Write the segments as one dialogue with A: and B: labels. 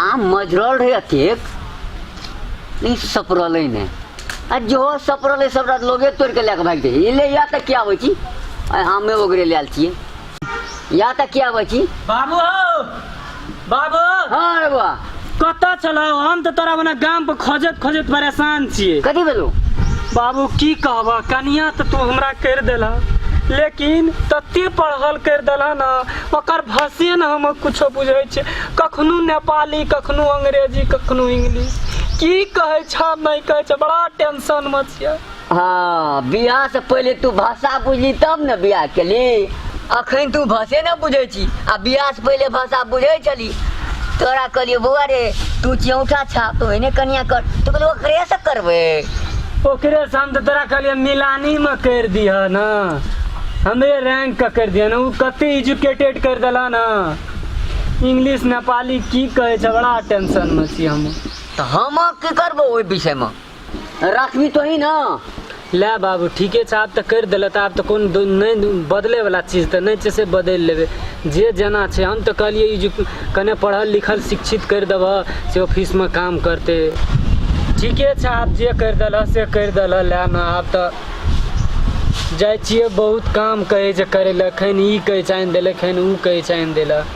A: आम मजरल रहे अतेक लेकिन सपरले ने आ जो सपरले सब रात लोगे तोड़ के लेके भाग जाइए ले या तक क्या होची आ आमे वगैरह ले आल छिए या तक क्या होची बाबू हो बाबू हाँ रे बुआ कतऽ छलौ हम तऽ तोरा मने गाम पर खोजत खोजत परेशान छियै कथी भेलो बाबू की कहब कनिया तऽ तू हमरा करि देलह लेकिन तते पढ़ल करि देलह ने ओकर भाषे ने हम किछो बुझै छियै कखनो नेपाली कखनो अंग्रेजी कखनो इंग्लिश की कहै छ नहि कहै छ बड़ा टेंशन मे छियै हाँ बियाह से पहले तू भाषा बुझली तब ने बियाह केली अखन तू भाषे ने बुझै छी आ बियाह से पहले भाषा बुझै छली तोरा कहलियो बौआ रे तू चियौठा छाप तो एने कनिया कर तो कहलियो ओकरे से करबे ओकरे से हम तो तोरा कहलिए मिलानी में कर दिह न हमरे रैंक का कर दिया ना उ कते एजुकेटेड कर दिला ना इंग्लिश नेपाली की कहे छै बड़ा टेंशन में छी हम तो हम की करबो ओहि विषय में राखबी तोही ना लै बाबू ठीके छै आब तऽ करि देलऽ तऽ आब तऽ कोन दो- नहि बदलैवला चीज तऽ नहि छै से बदलि लेबै जे जेना छै हम तऽ कहलियै ई जे कने पढ़ल लिखल शिक्षित करि देबह से ऑफिसमे काम करतै ठीके छै आब जे करि देलह से करि देलह लए ने आब तऽ जाइ छियै बहुत काम कहै छै करै लए खैन ई कहै छै आनि देलक खैन ओ कहै छै आनि देलक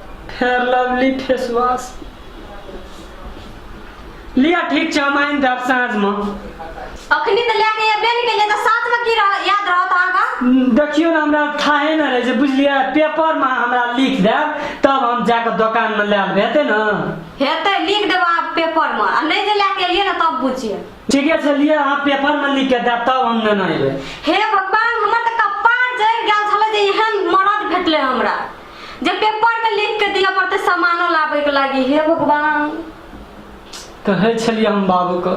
A: फेयर लवली फेस वॉश लिया ठीक छै हम आनि देब साँझमे अखनी तऽ लए के एबे नहि केलियै तऽ साथमे की रह याद रहत अहाँके हम्म, देखियौ ने हमरा थाहे नहि रहै छै बुझलियै पेपरमे हमरा लिख देब तब हम जाकऽ दोकानमे लए लेबै हेतै ने हेतै लिख देबै अहाँ पेपरमे आ नहि जे लए के एलियै ने तब बुझियै ठीके छै लिअ अहाँ पेपरमे लिख के देब तब हम नेने अयबै हे भगवान हमर तऽ कपार जरि गेल छलै जे एहन मरद भेटलै हमरा जब पेपर में लिख के दिया पड़ते सामानो लाबे के लागी हे भगवान कहै छलियै हम बाबूके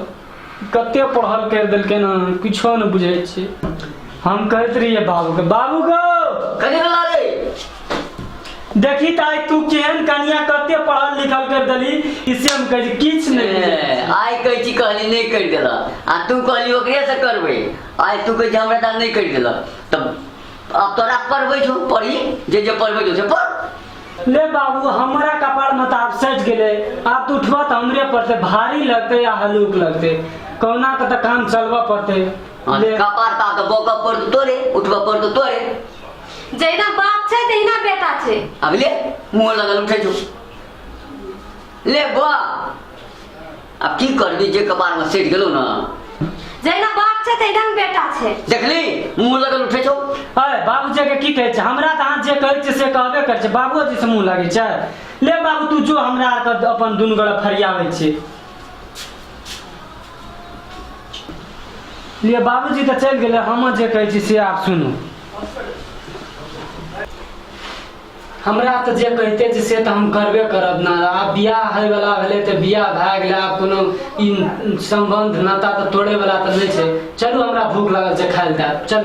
A: कते पढ़ल करि देलकै ने किछो नहि बुझै छी हम कहैत रहियै बाबूके बाबू गो कथी भेला रे देखी ताई तू केहन कनिया कते पढ़ल लिखल कर देली इसे हम कह किछ नहीं ए, आइ कहै छी कहली नहि करि देलक आ तू कहली ओकरे से करबै आइ तू कहै छी हमरा तऽ नहि करि देलक तब अब तोरा पढ़बै छौ पढ़ी जे जे पढ़बै छौ से पढ़ ले बाबू हमरा कपार में तो आप सज गए आप तो उठवा तो हमरे पर से भारी लगते या हलूक लगते कौना का तो काम चलवा पड़ते आ, ले कपार ता के बौका पड़ तो तोरे उठबा पड़ तो तोरे जहिना बाप छै तहिना बेटा छै अब ले मुँह लगल उठै छौ ले बा आब की करबी जे कपार में सेट गेलो ना जहिना बाप छै तहिना बेटा छै देखली मुंह लगल उठे छौ अरे बाबूजी के की कहे छै हमरा त हाथ जे कहे छै से कहबे करे छै बाबूजी से मुंह लगे छै ले बाबू तू जो हमरा के अपन दुन गड़ा फरियावे छै ले बाबूजी त चल गेले हम जे कहे छी से आप सुनू हमरा तऽ जे कहिते छै से तऽ हम करबे करब ने आब बियाह होयवला भेलै तऽ बियाह भए गेलै आब कोनो ई सम्बन्ध नाता तऽ तोड़ैवला तऽ नहि छै चलू हमरा भूख लागल छै खाय लए दए चल